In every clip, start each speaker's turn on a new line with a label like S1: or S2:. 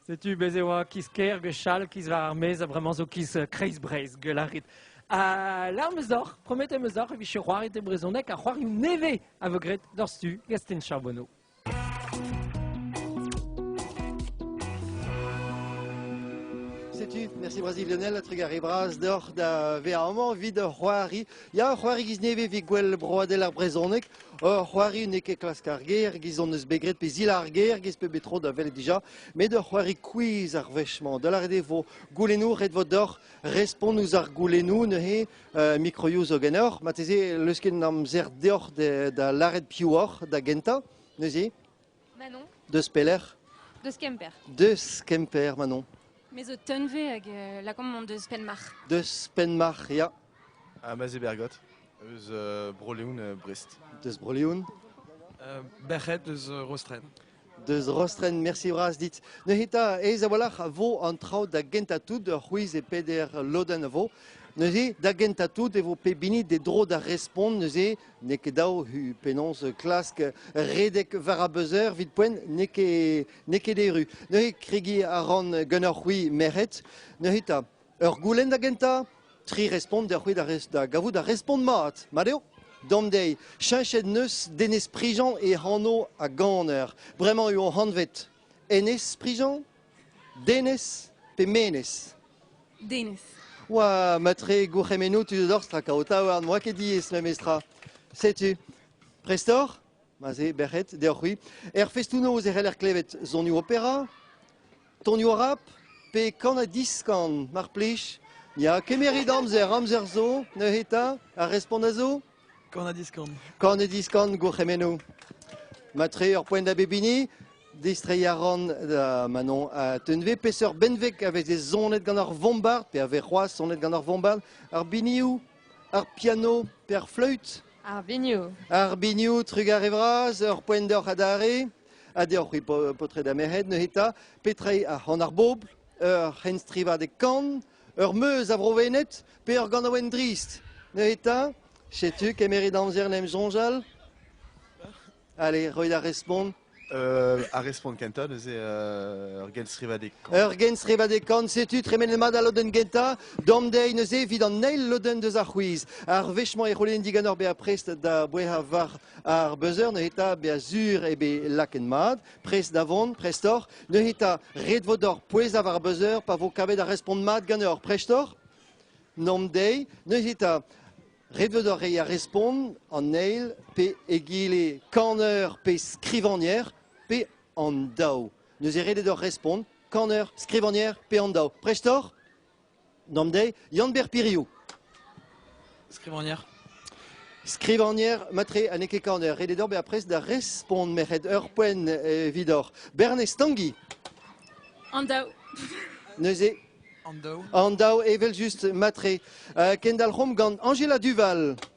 S1: Setu bez' e oa kiz-kêr gwechall, kiz war ar maez, ha bremañ zo kiz Kreiz-Breizh, gwell a rit. Ha lâr 'm eus deoc'h, promet em eus deoc'h e vije c'hoaret e brezhoneg ar c'hoarioù nevez a vo graet d'hor stu, Gastien Charbonneau. Setu, merci Brazil Lionel, a trugare bras deoc'h da vezañ amañ evit hor c'hoari. Ya, ur c'hoari giz nevez evit gwell broadel ar brezhoneg. Ur c'hoari n'eo ket klask ar ger e-giz hon eus bet graet pe zil ar ger e-giz pep tro da welet dija, met ur c'hoari quiz ar wech-mañ. Da lâret eo vo goulennoù, ret vo deoc'h respont ouzh ar goulennoù neuze uh, mikroioù zo ganeoc'h. Marteze leusket an amzer deoc'h da, da lâret piv oc'h da gentañ neuze. Manon Deus pelec'h Deus Kemper. Deus Kemper, Manon. Me zo Teunve hag euh, lakaomp on deus Penmarc'h. Deus Penmarc'h, ya. Ha ma Bergot, eus uh, Bro-Leon uh, Brest. Deus Bro-Leon uh, Berc'het eus uh, Rostren. Deus Rostren, merci bras dit. Neuze ez a-walc'h a vo an traoù da gentañ tout ur c'hwiz e peder lodenn a vo. Neuze, da gentañ tout e vo pep hini d'e dro da respont neuze N'eo ket dav penaos klask redek war ar buzzer evit poent n'eo ket, n'eo ket erru. Neuze kregiñ a ran ganeoc'h-c'hwi merc'hed. Neuze ta, ur goulenn da gentañ, tri respont deoc'h-c'hwi da, da gavout ar respont mat. Mat eo? D'an deiz, cheñchet neuz Denez Prijean e anv a ganer. Bremañ eo anvet Enez Prijean Denez pe menez? Denez. Oa matre gourc'hemennoù tu dorzh tra o taouarn, n'oa ket diaes memestra. Setu, prestoc'h? Ma se, bec'hed, deoc'h-c'hwi. Er festoù-noz e c'heller klevet sonioù opera, tonioù rap pe kan ha diskan, mar plij. Ya, kemerit amzer, amzer zo, neuze 'ta, ar respont a zo? Kan ha diskan. Kan ha diskan, gourc'hemennoù. Matre ur poent da bep hini. Distreiñ a ran da Manon ha Teunve. Peseurt benveg a veze sonet gant ar vombard, pe a vez c'hoazh sonet gant ar vombard? Ar binioù, ar piano, pe ar fleüt? Ar binioù. Ar binioù, trugare vras, ur poent deoc'h adarre. Ha deoc'h-c'hwi paotred ha merc'hed neuze 'ta, petra eo an ar bobl? Ur c'henstrivadeg kan, Ur meuz a Vrovened pe ur ganaouenn drist neuze 'ta setu kemeret amzer 'n em soñjal. Allez, roit ar respont. Euh, ar respont kentañ neuze euh, ur genstrivadeg-kant. Ur genstrivadeg-kant, setu tremenet mat al lodenn gentañ. Dom dezhi neuze evit an eil lodenn deus ar c'hwiz. Ar wech-mañ e c'houlenn diganor bezañ prest da bouezañ war ar buzzer neuze 'ta bezañ sur eo bet laket mat. Prest da vont, prestoc'h. Neuze ta, ret vo deoc'h pouezañ war beuzeur pa vo kavet ar respont mat ganeoc'h, prestoc'h? Nom dezhi. Neuze ta, ret vo deoc'h reiñ ar respont an eil pe egile kaner pe skrivagner pe an daou. Neuze ret eo deoc'h respont kaner, skrivagner pe an daou. Prestoc'h? Nom dezhi Yann-Ber Piriou. Skrivagner. Skrivagner, matre ha n'eo ket kaner. Ret eo deoc'h bezañ prest da respont merc'hed ur poent evidoc'h. Bernez Stangi. An daou. Neuze An daou. An daou, evel-just, matre. Uh, kendalc'homp gant Angela Duval.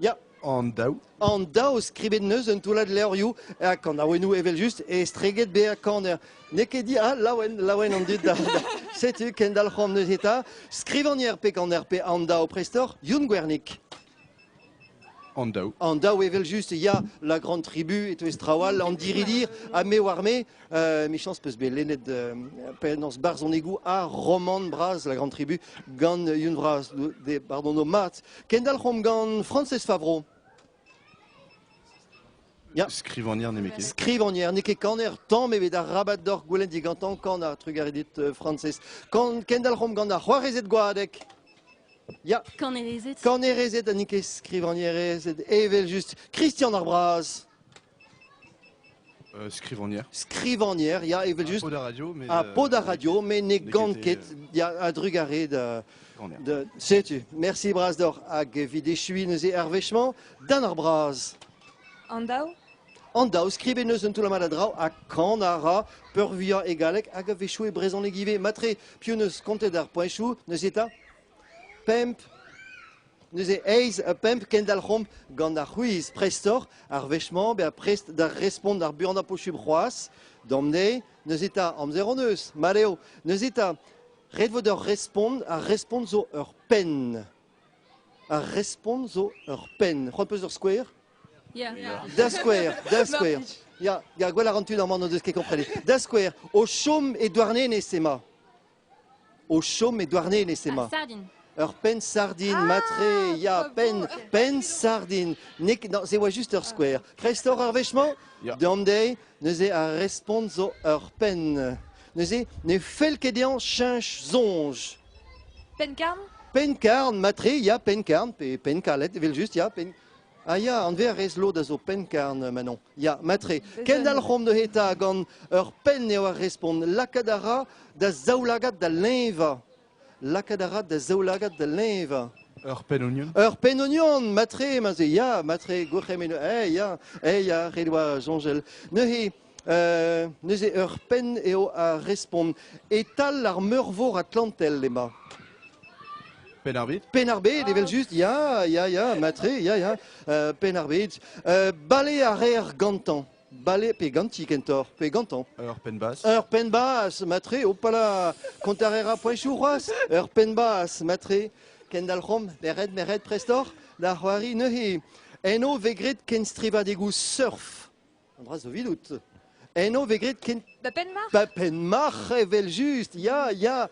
S1: Ya. An daou. An daou skrivet neus un toullad levrioù ha kanaouennoù evel-just estreget bezañ kaner. N'eo ket dit, ah, laouen, laouen an dud. Da, da. Setu kendalc'homp neuze eta. Skrivan er pe kaner pe an daou prestoc'h, Youn Gwernik. An daou. An daou evel-just, ya, la grande tribu et tout traoù all, an diridir, ha me war me, Emichañs peus bet lennet penaos barzhonegoù ha romant bras La Grande Tribu gant Yun Vras. De bardono mat. Kendalc'homp gant Francez Favreau. Ya. Skrivagner n'eo ket. Skrivagner n'eo ket kaner tamm ebet arabat doc'h goulenn digantañ kanañ trugarez dit euh, Francez. Kendalc'homp gant ar c'hoarezed gwadek. Ya. Kanerezed. Kanerezed ha n'int ket skrivagnerezed evel just. Christian ar Braz. Skrivagner. Skrivagner, ya, evel-just. Pod ar radio, met... Ah, pod ar radio, mais ne gant ket, ya, a-drugarez de... de setu, merci bras d'oc'h, hag evit echuiñ neuze ar wechement, dan ar bras. An daou? An daou, skrivet neus un toulamad a draou, ha kan a ra peurvuiañ e galleg, hag a wechou e brezhoneg ivez. Matre, piv neus kontet ar poeñchoù, neuze eta? Pemp, Neuze eizh ha pemp kendalc'homp gant ar c'hwiz prestoc'h ar wech-mañ bezañ prest da respont ar buanañ posubl c'hoazh. D'am deiz, neuze 'ta, amzer hon eus, mat eo. Neuze 'ta, ret vo deoc'h respont. Ar respont zo ur penn. Ar respont zo ur penn. C'hoant 'peus ur skouer Ya. Da skouer, da skouer. Ya, ya, gwell a ran tud amañ n'o deus ket komprenet. Da skouer, o chom e Douarnenez emañ. O chom e Douarnenez emañ. Ur penn-sardin matre, ya, penn, penn-sardin. N'eo ket, non, se oa juste ur skouer. Kreist oc'h ar wech-mañ? Ya. Deomp dezhi. Neuze ar respont zo ur penn. Neuze ne fell ket dezhañ cheñch soñj. Penn-karn? Penn-karn, matre, ya, penn-karn, pe penn-karlet, evel-just, ya, penn... Ah ya, an verez lod a zo pennkarn, Manon. Ya, matre. Kendalc'homp neuze 'ta gant ur penn eo ar respont. Lakaat a ra da zaoulagad da leñvañ. Lakaat a ra da zaoulagad da leñvañ. Ur penn-ognon Ur penn-ognon, matre, mase, ya, matre, gourc'hemenn, eh, ya, eh, ya, ret oa soñjel. Neuze, neuze ur penn eo a respont. E-tal ar Meurvor Atlantel emañ. Penn-ar-Bed Penn-ar-Bed, evel-just, ya, ya, ya, matre, ya, ya, euh, Penn-ar-Bed. Euh, bale a reer gantañ. Bale, pe ganti kentoc'h, pe gantañ. Ur penn-bas. Ur penn-bas, matre, opala, kontarera.chu c'hoazh, ur penn-bas, matre, kendalc'homp, meret, meret, prestoc'h, da c'hoari neuze. En o vez graet kenstrivadegoù surf. An dra zo evidout. Eno vez graet ken... Ba Penmarc'h Ba Penmarc'h, evel-just, ya, ya.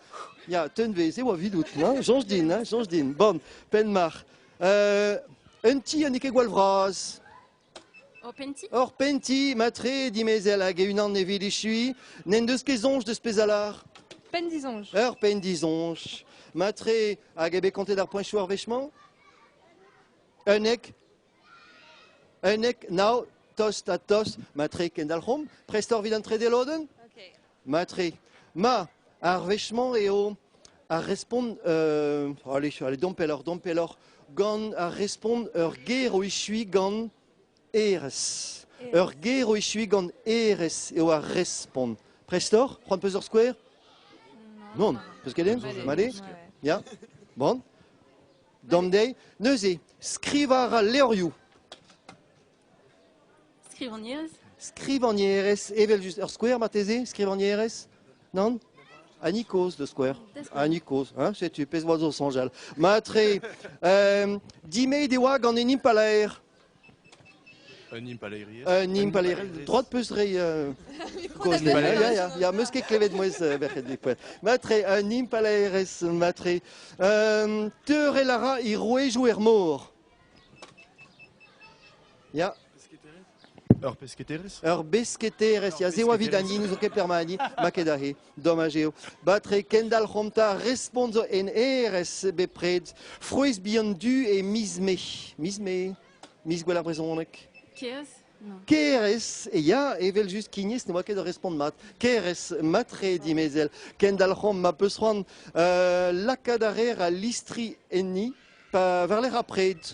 S1: Ya, teunvez eo evidout, hein? Soñj din, hein? Soñj din. Bon, Penmarc'h. Euh, un ti n'eo ket gwall vras. Hor penti Hor penti, matre, dimezell, hag e-unan e vilichuy. N'en deus ket soñj deus pezh alar Pen dizonj. Ur pen dizonj. Matre, hag eo bet kontet ar poeñchoù ar wech-mañ Un ek Unnek, nav, tost ha tost. Matre kendalc'homp. Prest oc'h evit an trede lodenn Okay. Matre. Ma, ar wech-mañ eo ar respont... Euh, allez, allez, domp pelloc'h, domp pelloc'h. Gant ar respont ur ger o echuiñ gant erez. Ur ger o echuiñ gant erez eo ar respont. Prest oc'h? C'hoant peus ur skouer Non. N'on. Peus ket den Allez. Male Ja. Bon. D'an deiz neuze, skrivañ a ra levrioù. Skrivagnerez Skrivagnerez, evel-just. Ur skouer marteze, skrivagnerez Non Annie Koz, le skouer. Annie Koz, hein setu, pezh oa zo soñjal. Matre, euh, dimeit e oa gant un impalaer. Un impalaeriezh Un impalaeriezh droit 'peus reiñ euh, kaoz dezhi. Ya, ya, ya, 'm eus ket klevet mouezh euh, verc'hed dipoell. Matre, un impalaerez matre. Euh, teurel a ra he rouejoù er mor. Ya, Ur pesketerez ur besketerez. Ya, se oa 'vit an hini, n'ouzon ket perma an hini, ma ket ahe. Domaj eo. Batre kendalc'homp 'ta respont zo en erez bepred. Frouezh bihan du e miz Mae. Miz Mae. Miz gwell ar brezhoneg. Kez Keres, e ya, evel just kignez, ne oa ket da respont mat. Keres, matre dimezell, kendalc'homp ma peus c'hoant uh, lakaat a reer al listri enni, pa varler apred.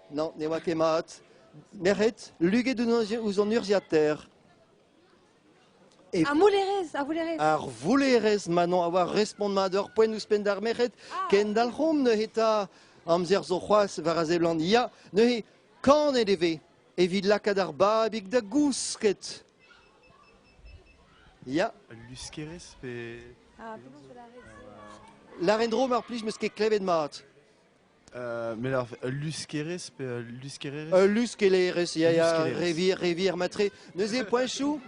S1: Non, ne oa ket mat. Merc'hed, luget ouzh an urzhiataer. Et... Ar voullerez, ar voullerez. Ar voullerez, ma non, a oa respont mat ur poent ouzhpenn d'ar merc'hed. Ah. Kendalc'homp neuze ta amzer zo c'hoazh war a seblant ya. Neuze, kanet e vez evit lakaat ar babig da gousket. Ya. Luskerez pe... Ah, penaos la reine Laren Dro, mar plij, meus ket klevet mat. Mais alors, ul luskerez pe ul luskererez Ul luskelerez, ya, ya, Luskererez. revier, revier matre. Neuze poinchou,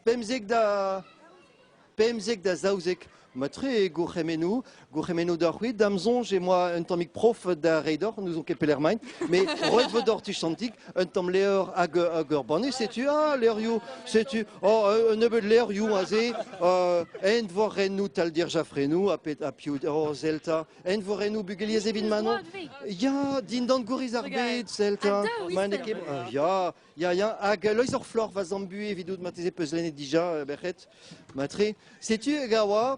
S1: pemzek da pemzek da zaouzek. Matre e gourc'hemennou, gourc'hemennou d'ar c'hwit, dam zonj e moa un tammig prof da rei d'oc'h, nous on ket pelec'h maint, mais roet vo d'oc'h tu chantik, un tamm levr hag, hag ur banne, setu, ah, levrioù, setu, oh, un nebeud levrioù aze, uh, envorennoù taldir jafrennoù ha, pet, ha piv, oh, Zelta, envorennoù bugeliez evit Manon, ya, dindan gouriz ar bed, Zelta, ma n'eo ket, ah, ya, ya, ya, hag Loiz or Flor va zambu evidout mateze peuzlennet dija, bec'het, matre, setu, gawa,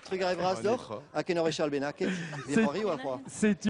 S1: Trugarez vras deoc'h, ha ken ur wech all bennaket, ne c'hoariu ar c'hoar. Setu